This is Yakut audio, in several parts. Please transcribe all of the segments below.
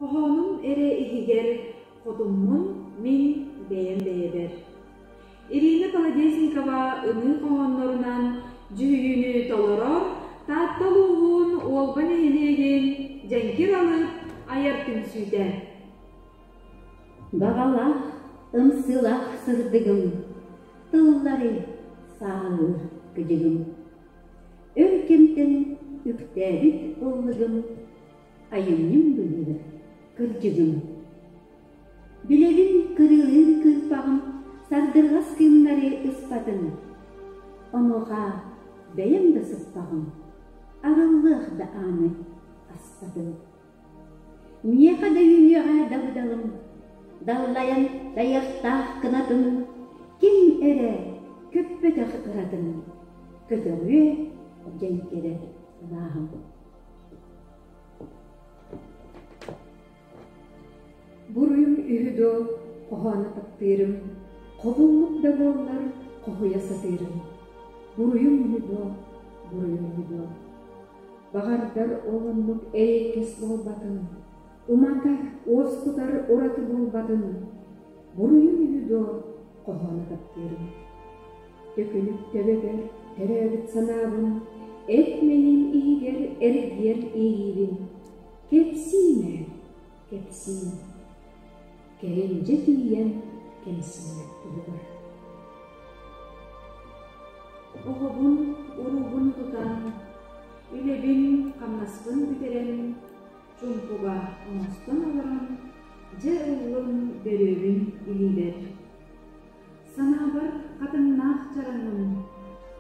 Хоһоонум эрэ иһигэр хотуммун мин бэйэм бэйэбэр Ирина Колодезникова ыныы хоһооннорунаан дьүһүйүүнү толоро Таатта улууһун Уолба нэһилиэгин Дьэҥкир Алып айар түмсүүтэ Баҕалаах, ымсыылах сырдыгым, тыллары сааһылыыр кыдьыгым Өр кэмтэн үктээбит ыллыгым, айанньым быһыыга кырдьыгым, билэбин кырыылыыр кыырпаҕым сардырҕас кыымнары ыспатын, онуоха бэйэм да сыппаҕым, арыллыах да ааны аспатын Миэхэ да үһүөҕэ дабыдалым, даллайан дайахтаах кынатым, ким эрэ көппөтөх ыратын көтөҕүө дьэн кэлэ сылааһым Буруйум үһү дуо хоһооно таптыырым, хобуллук да буоллар хоһуйа сатыырым. Буруйум үһү дуо буруйум үһү дуо Баҕардар ол оннук эйэкэс буолбатын, уматар, уоскутар ураты буолбатын, буруйун үһү дуо, хоһооно таптыырым. Төкүнүк төбөбөр төрөөбүт санаабын, эт мэйин иһигэр эргийэр иэйиибин. Кэпсиим ээ, кэпсиим. Кэриндьэ тиийэн кэмсиммэт туһугар Оҕобун уруубун тутан, үлэбин-хамнаспын бүтэрэн, чуумпуга оҥостон олорон, дьэ ыллым бөрүөбүн илиибэр Санаабар хатыҥнаах чараҥым,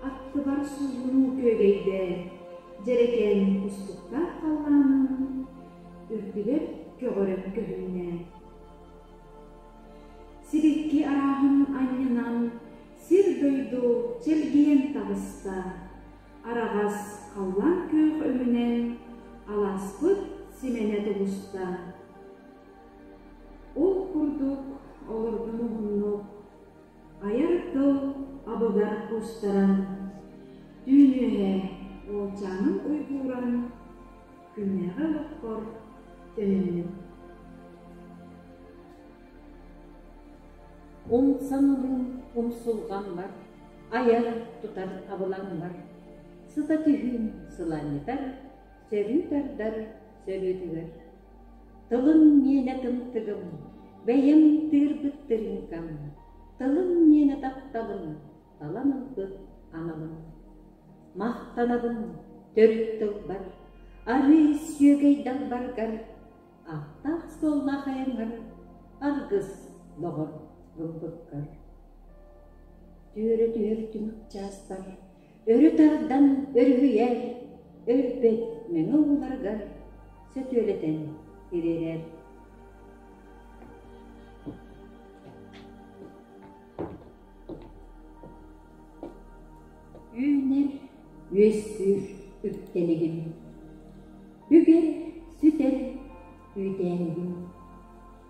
аттыбар суулуу күөгэйдээ, дьэрэкээним кустуктаах халлааным, үрдүбэр көҕөрөн көһүннээ. Сибэкки арааһын анньынан, сир-дойду чэлгийэн таҕыста, араҕас халлаан күөх өҥүнэн алааспыт симэнэ тубуста. Ол курдук олордун уһуннук, айар тыл абыгар кустаран, түүн үөһэ уолчаанын уйгууран, күннээҕи олохпор төнүннүм. Умсан-умун умсулҕаммар, айар, тутар абылаҥмар, сыта түһүүм сылаанньытар, сөрүү тардар сөрүүтүгэр Тылым миэнэ тымтыгым, бэйэм тыырбыттырыыҥкам, тылым миэнэ тапталым, талан ылбыт аналым. Махтанабын төрүт тылбар, арыы сүөгэй далбаргар, ааттаах-суоллаах айаҥар, аргыс доҕор бурдуккар. Түөрэ түһэр түмүк чаастар Өрө тардан өрүһүйэр, өлбөт мэҥэ ууларгар сөтүөлэтэн тириэрэр Үүнэр, үөссүүр үктэлигим Бүгэр, сүтэр, үүтээнигим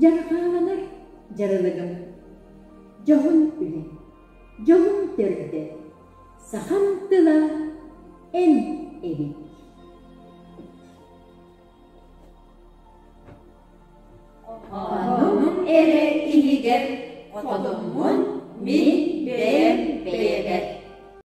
Дьарҕааланар дьарылыгым дьоһун үлэ, дьолум төрүтэ, сахам тыла эн эбит Хоһоонум эрэ иһигэр хотоммун мин бэйэм бэйэбэр